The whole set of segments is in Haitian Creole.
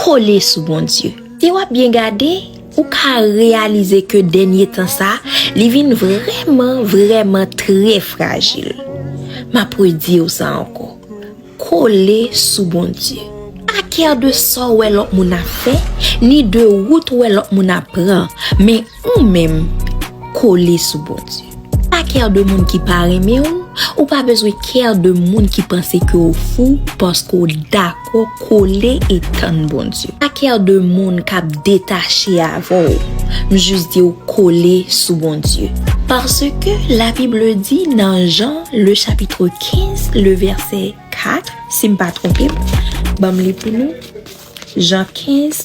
Kole sou Bondye. Si w ap byen gade, ou ka reyalize ke dènye tan sa a, li vin vrèman, vrèman trè frajil. M ap redi w sa ankò, Kole sou Bondye. Pa kè de sa w wè lòt moun ap fè, ni de wout ou wè lòt moun ap pran, men Ou menm, kole sou Bondye. Pa care de moun ki pa renmen ou, ou pa bezwen care de moun ki panse ke ou fou paske ou dakò kole e tann Bondye. Pa care de moun kap detache avè w, m jis di w kole sou Bondye. Paske la Bible di nan Jean le chapitre 15 le verset 4, si m pa twonpe m, banm li pou nou, Jean 15.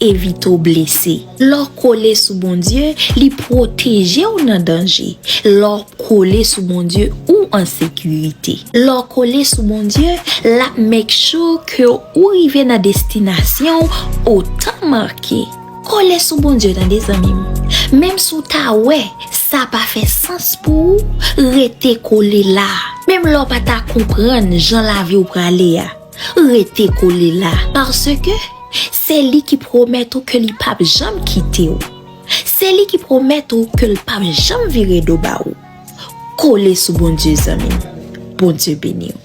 evite w blese. Lè w kole sou Bondye, li pwoteje w nan danje. Lè w kole sou Bondye, ou an sekirite. Lè w kole sou Bondye, l ap make sure ke ou rive nan destinasyon w o tan make. Kole sou Bondye tande zanmi m. Menm si w ta wè sa pa fè sans pou ou, rete kole la. Menm lè w pa ta konprann jan lavi w prale a. Rete kole la, paske se li ki pwomèt ou ke li pap janm kite ou. Se li ki pwomèt ou ke l pap janm vire do ba ou. Kole sou Bondye zanmi m. Bondye beni w.